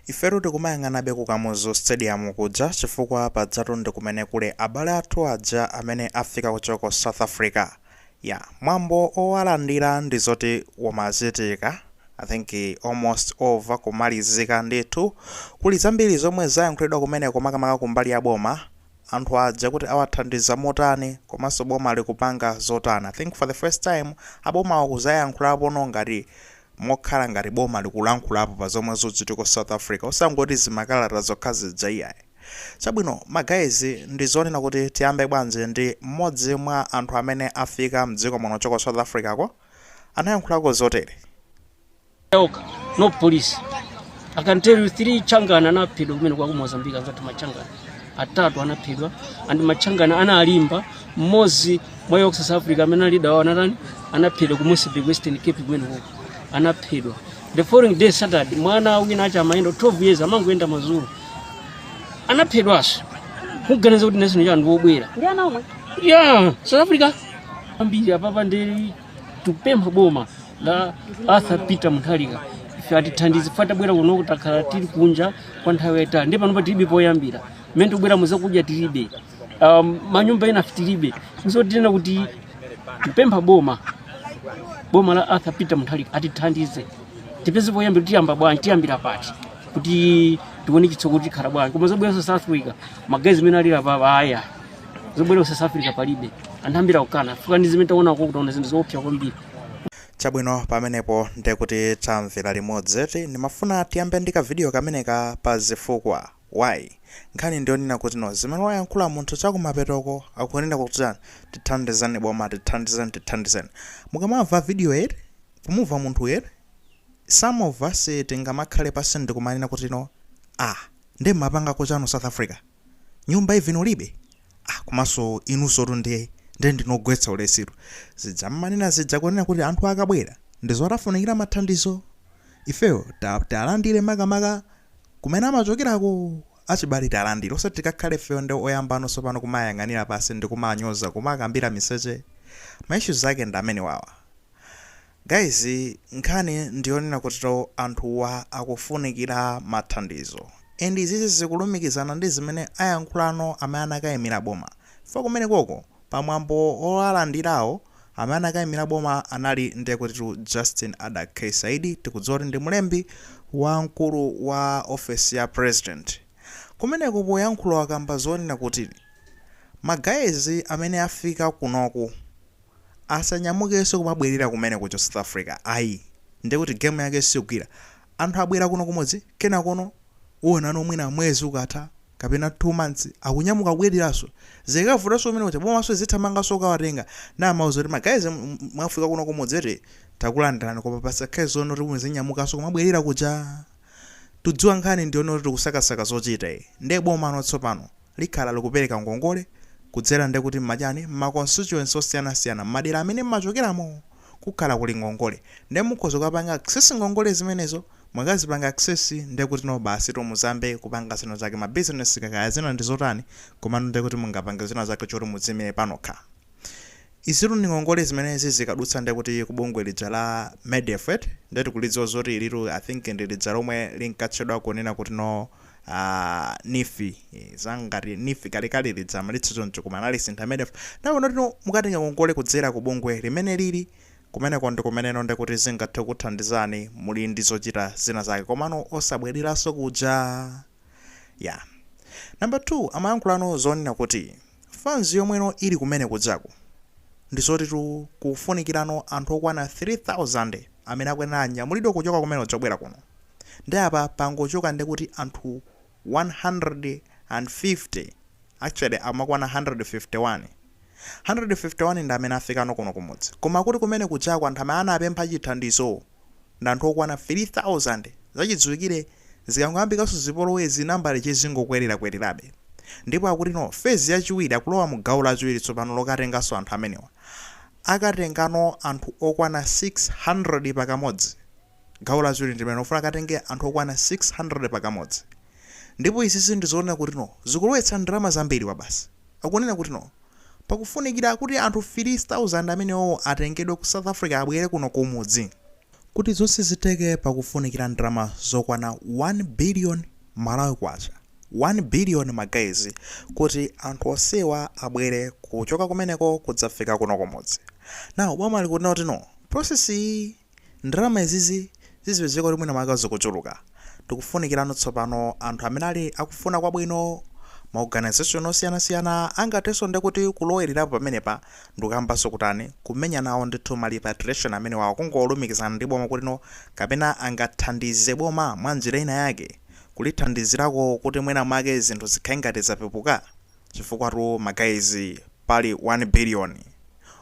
Ifetu tikumayang'anabe ku Kamuzu Stadium kuja chifukwa pajatu ndi kumene kuli abale athu aja amene afika kuchoka ku South Africa. Yeah, mwambo owalandira ndi zoti umachitika I think almost over, kumalizika ndithu. Kuli zambiri zomwe zayankhulidwa kumeneko makamaka kumbali ya boma, anthu aja kuti awathandiza motani komanso boma likupanga zotani. I think for the first time abomawa kuzayankhulapono ngati mokhala ngati boma likulankhulapo pa zomwe zikuchitika ku south africa osangoti zimakalata zokha zija iyayi. chabwino ma guys ndi zonena kuti tiyambe bwanji ndi mmodzi mwa anthu amene afika mdziko muno kuchoka ku south africa ko anayankhulako zotere. okha no police. I can tell you 3 changana anaphedwa kumeneko a ku mozambique anzathu machangana. atatu anaphedwa and machangana analimba mmodzi mwa iwo ku south africa amene ali leader wawo anatani anaphedwa ku mossel bay western cape kumeneko anaphedwa the following day saturday mwana wina acha amayenda 12 years amangoyenda madzulo anaphedwanso kuganiza kuti national cha anthu obwera ndi ana omwe a south africa ambiri apapa ndi tikupempha boma la arthur peter mutharika ife atithandize fukwa tabwera kuno takhala tili kunja kwa nthawi yayitali ndi panopa tilibe poyambira mmene tikubweramu zakudya tilibe um, manyumba ena tilibe nzotinena kuti tikupempha boma boma la arthur peter mutharika atithandize tipeze poyambira tiyamba bwanji tiyambira pati kuti tione chitsogolo tikhala bwanji koma zobweranso south africa ma guys mmene alili apapa aya zobwera ku south africa palibe anthu ambiri akukana chifukwa ndi zimene taona uko taona zinthu zoopsa kwambiri chabwino pamenepo ndekuti tamvera limodzi eti ndimafuna tiyambe ndi kavidiyo kameneka pa zifukwa why nkhani ndiyonena kuti no zimene wayankhula munthu chakumapetoko akunena kuti chani tithandizeni boma tithandizeni tithandizeni mukamamva vidiyoyi eti kumumva munthuyu eti some of us tingamakhale pansi ndikumanena kuti no ah nde mmapangako chani ku south africa nyumba even ulibe ah, komanso inunsotu nde nde ndinu ogwetsa ulesitu zija mmanena zija kunena kuti anthu akabwera ndi zoti afunikira mathandizo ifeyo ta- tiwalandire makamaka kumene amachokerako achibale tiwalandire osati tikakhale ifeyo ndi oyambano tsopano kumayang'anira pansi ndi kumanyoza kumakambira miseche ma issues ake ndi amenewawa Guys nkhani ndiyonena kuti anthuwa akufunikira mathandizo and izizi zikulumikizana ndi zimene ayankhulano amene anakaimira boma chifukwa kumenekoko pa mwambo owalandirawo amene anakaimira boma anali ndiye kutitu Justin Adack K Saidi tikudziwa kuti ndi mlembi wamkulu wa ofesi ya president kumeneko poyankhula wakamba zonena kuti ma guys amene afika kunoku asanyamukenso kumabwerera kumene kuja ku south africa ai ndiye kuti game yake sigwira. anthu abwera kuno kumudzi kenakono uonano mwina mwezi ukatha kapena 2 months akunyamuka kubwereranso. zikavutanso kumene kuja bomanso lizithamanganso kukawatenga. nde amauza kuti ma guys mwafika kuno kumudzi eti takulandirani koma pasakhale zoona kuti muzinyamukanso kumabwerera kuja. Tikudziwa nkhani ndi yoti tikusakasaka zochita eti nde bomano tsopano likhala likupereka ngongole kudzera nde kuti mmachani mma constituency osiyanasiyana mmadera amene mmachokeramo kukhala kuli ngongole nde mukhoza kukapanga access ngongole zimenezo mukazipanga access ndekuti no basitu muziyamba kupanga zina zake ma business kaya zina ndizotani komano ndekuti mungapange zina zake zoti mudziimire panokha Izitu ndi ngongole zimene zizikadutsa ndiye kuti ku bungwe lija la Medef eti, ndiye tikulidziwa zoti ilitu I think ndi lija lomwe linkatchedwa kunena kuti no Neef, za ngati Neef kalekale lija amalitcha choncho koma analisintha Medef, ndiye akuti no mukatenga ngongole kudzera ku bungwe limenelili, kumeneko ndi kumene no ndiye kuti zingathe kukuthandizani muli ndi zochita zina zake komano osabwereranso kuja. Yeah. Number 2, amayankhulanso zonena kuti. Fans yomwe ili kumene kujako ndizotitu kukufunikirano anthu okwana 3000 amene akuyenera anyamulidwe kuchoka kumene kuja kubwera kuno nde apa pangochoka ndekuti anthu 150 actually amakwana 151 151 ndi amene afikano kuno kumudzi koma akuti kumene kujako anthu amene anapempha chithandizo ndi anthu okwana 3,000. Zachidziwikire, zikangoyambikanso zipolowezi nambalayi izingokwererakwererabe. Ndipo akuti no phase yachiwiri akulowa mu gawo lachiwiri tsopano lokatenganso anthu amenewa. Akatengano anthu okwana 600 pakamodzi. Gawo lachiwiri ndi limenelo, akufuna akatenge anthu okwana 600 pakamodzi. Ndipo izizi ndi zoonekera kuti no zikulowetsa ndalama zambiri kwabasi. Akunena kuti no. Pakufunikira kuti anthu 3,000 amenewo atengedwe ku South Africa abwere kuno kumudzi. Kuti zonse zitheke pakufunikira ndalama zokwana 1 billion Malawi Kwacha, 1 billion ma guys, kuti anthu onsewa abwere kuchoka kumeneko kudzafika kuno kumudzi. Now boma likunena kuti no, process iyi. Ndalama izizi zizipezeka kuti mwina mwake zikuchuluka. Tikufunikirano tsopano anthu amene ali akufuna kwabwino, ma organization osiyanasiyana angathenso ndiye kuti kulowererapo pamenepa ndikuyambanso kutani, kumenya nawo ndithu ma repatriation amenewawa, kungolumikizana ndi boma kuti no kapena angathandize boma mwa njira ina yake kulithandizirako kuti mwina mwake zinthu zikhale ngati zapepuka. chifukwatu ma guys pali 1 billion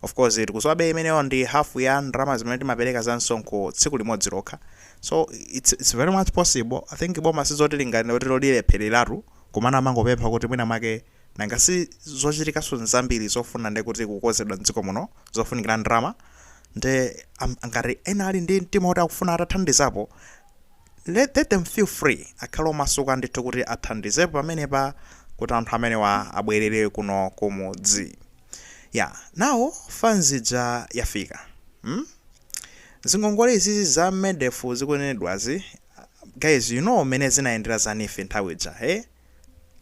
of course tikuziwabe imeneyo ndi half ya ndalama zimene timapereka za msonkho tsiku limodzi lokha so it's, it's very much possible i think boma sizoti lingati lolephereratu komano amangopempha kuti mwina mwake nanga si zochitikaso nzambiri zofuna nde kuti kukozedwa mdziko muno zofunikira ndalama nde ngati ena ali ndi mtima kuti akufuna atathandizapo Let them feel free akhale omasuka ndithu kuti athandizepo pamenepa kuti anthu amenewa abwerere kuno kumudzi ya now funds ija yafika mm? zingongole izizi za MEDEF zikunenedwazi guys you know mmene zinayendera zanife nthawi ija eh?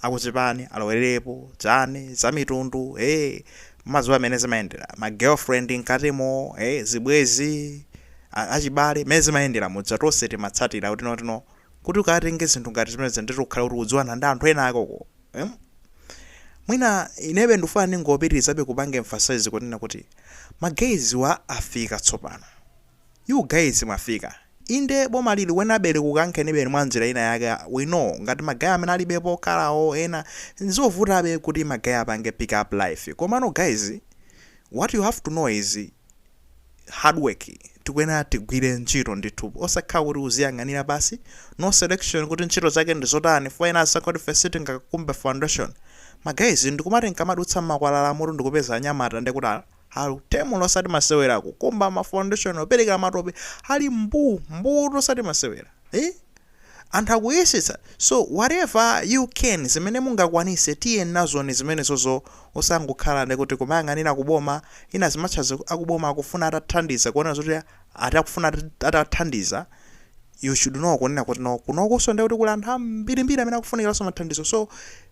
akuchipani alowererepo chani zamitundu ee mumadziwa mmene zimayendera ma girlfriend mkatimo ee zibwezi a- achibale mmene zimayendera muja tonse timatsatira kuti no tino kuti ukatenge zinthu ngati zimenezi ndiye uti ukhale kuti ukudziwana ndi anthu ena akoko em? mwina inebe ndifuna ndingopitirizabe kupanga emphasize kunena kuti ma guys wa afika tsopano You guys mwafika. Inde bomali likuyenerabe kukukankhenibe mwanjira ina yake we know ngati ma guy amene alibe pokhala or ena nzovutabe kuti ma guy apange pick up life komano guys what you have to know is hard work tikuenera tigwire ntchito ndithu osakhala kuti uziyang'anira basi no selection kuti ntchito zake ndizotani fo ena asakha kuti fe sitingakumbe foundation ma guys ndikumati nkamadutsa mmakwalalamo tu ndikupeza anyamata ndekuti ali tem'mu osati masewera kukumba ma foundation operekera matope ali mbuu mbuutu osati masewera ee anthu akuyesetsa so whatever you can zimene mungakwanise tiyeni nazoni zimenezozo osangokhala nde kuti kumayang'anira ku boma inayake zimachita akuboma akufuna atathandiza kuona zoti ati akufuna atathandiza you should know kunena kuti no kunokuso nde kuti kuli anthu ambirimbiri amene akufunikilaso mathandizo so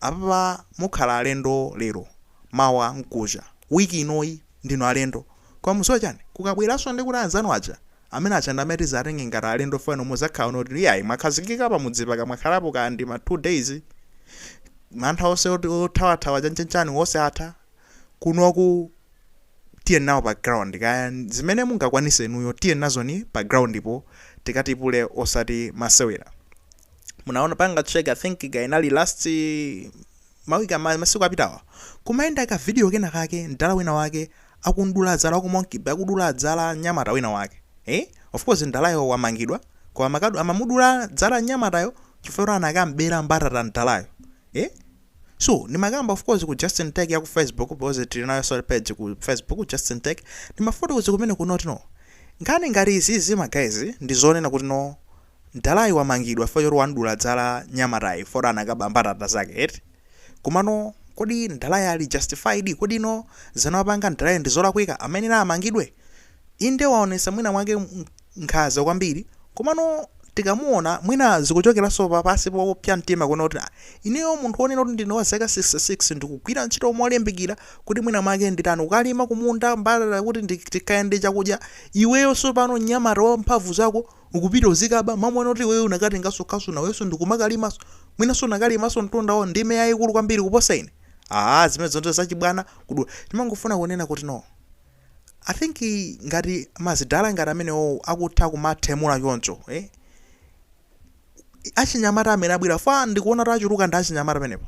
Apapa mukhala alendo lero mawa mkucha week inoyi ndinu alendo koma muziwa chani kukabweraso ndekuti anzanu aja amene aja ndi amene tizatenge ngati alendo chifukwa inu muzakhala kunoti iyayi mwakhazikika pamudzi paka mwakhalapo kaya ndi ma 2 days mantha ose oti othawathawa chanchanchani ose atha kunoku tiyeni nawo pa ground kaya zimene mungakwanise inuyo tiyeni nazoni pa groundpo tikatipule osati masewera. munaona panga check i think ka inali last mawiki ama- masiku apitawa kumayenda ka video kena kake mdala wina wake akumudula zala ku Monkey Bay akudula zala mnyamata wina wake eh of course mdalayo wamangidwa koma mwakuti amamudula zala mnyamatayo chifukwa kuti anakamubera mbatata mdalayo eh so ndimakamba of course ku justin tech ya ku facebook because tili nayo so page ku facebook ku justin tech ndimafotokoza kumene kunoti no nkhani ngati izizi ma guys ndi zonena kuti no Mdalayi wamangidwa chifukwa choti wamdula zala mnyamatayo chifukwa choti anakaba mbatata zake eti? Komano kodi mdalayi ali justified? Kodi ino zimene wapanga mdalayi ndi zolakwika? Amayenera amangidwe? Inde waonetsa mwina mwake nkhaza kwambiri komano tikamuona mwina zikuchokeranso pa pansi popsa mtima kunena kuti ah ineyo munthu wonena kuti ndine wa zaka 66 ndikugwira ntchito molimbikira kuti mwina mwake nditani ndikalima kumunda mbatata kuti ndikhale ndi chakudya iweyo tsopano mnyamata wa mphamvu zako ukupita uzikaba m'malo moti iweyo unakatenganso khasu nawenso n'kumakalimanso mwinanso unakalimanso munthuwe ndime yayikulu kwambiri kuposa ine aa zimenezo ndizo zachibwana kudula ndimangofuna kunena kuti no i think ngati mazidala ngati amenewo akutha kumathemula choncho eh? achinyamata amene abwerawa ndikuona kuti achuluka ndi achinyamata pamenepo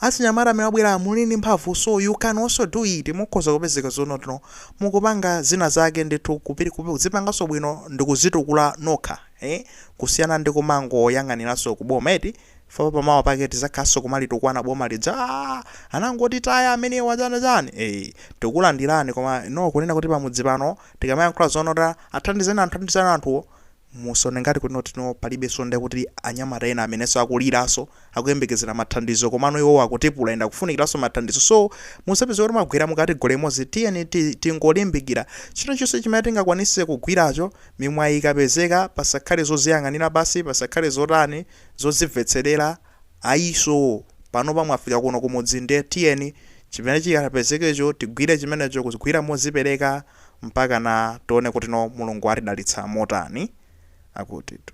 Achinyamata amene abwera muli ndi mphamvu so you can also do it mukhoza kupezeka zonotino mukupanga zina zake ndithu kuzipanganso bwino ndikuzitukula nokha ee kusiyana ndi kumangoyang'aniranso ku boma eti chifukwa pamawa pake tizakhalanso kumalitukwana boma lija aah anangotitaya amenewa chani chani ee tikukulandirani komano kunena kuti pamudzi pano tikamayankhula zonoti athandizeni anthu athandizeni anthuwo Musaone ngati kutino palibenso ndekuti anyamata ena amenenso akuliranso akuyembekezera mathandizo komano iwowo akutipula and akufunikiranso mathandizo so musapezeke kuti mwagwera mu category imodzi tiyeni ti tingolimbikira chilichonse chimene tingakwanise kugwiracho mimwayi ikapezeka pasakhale zoziyang'anira pansi pasakhale zotani zodzimvetserera ayiso panopa mwafika kuno kumudzi nde tiyeni chimene chikapezekecho tigwire chimenecho kugwira mozipereka mpakana tione kutino Mulungu atidalitsa motani. Akutitu.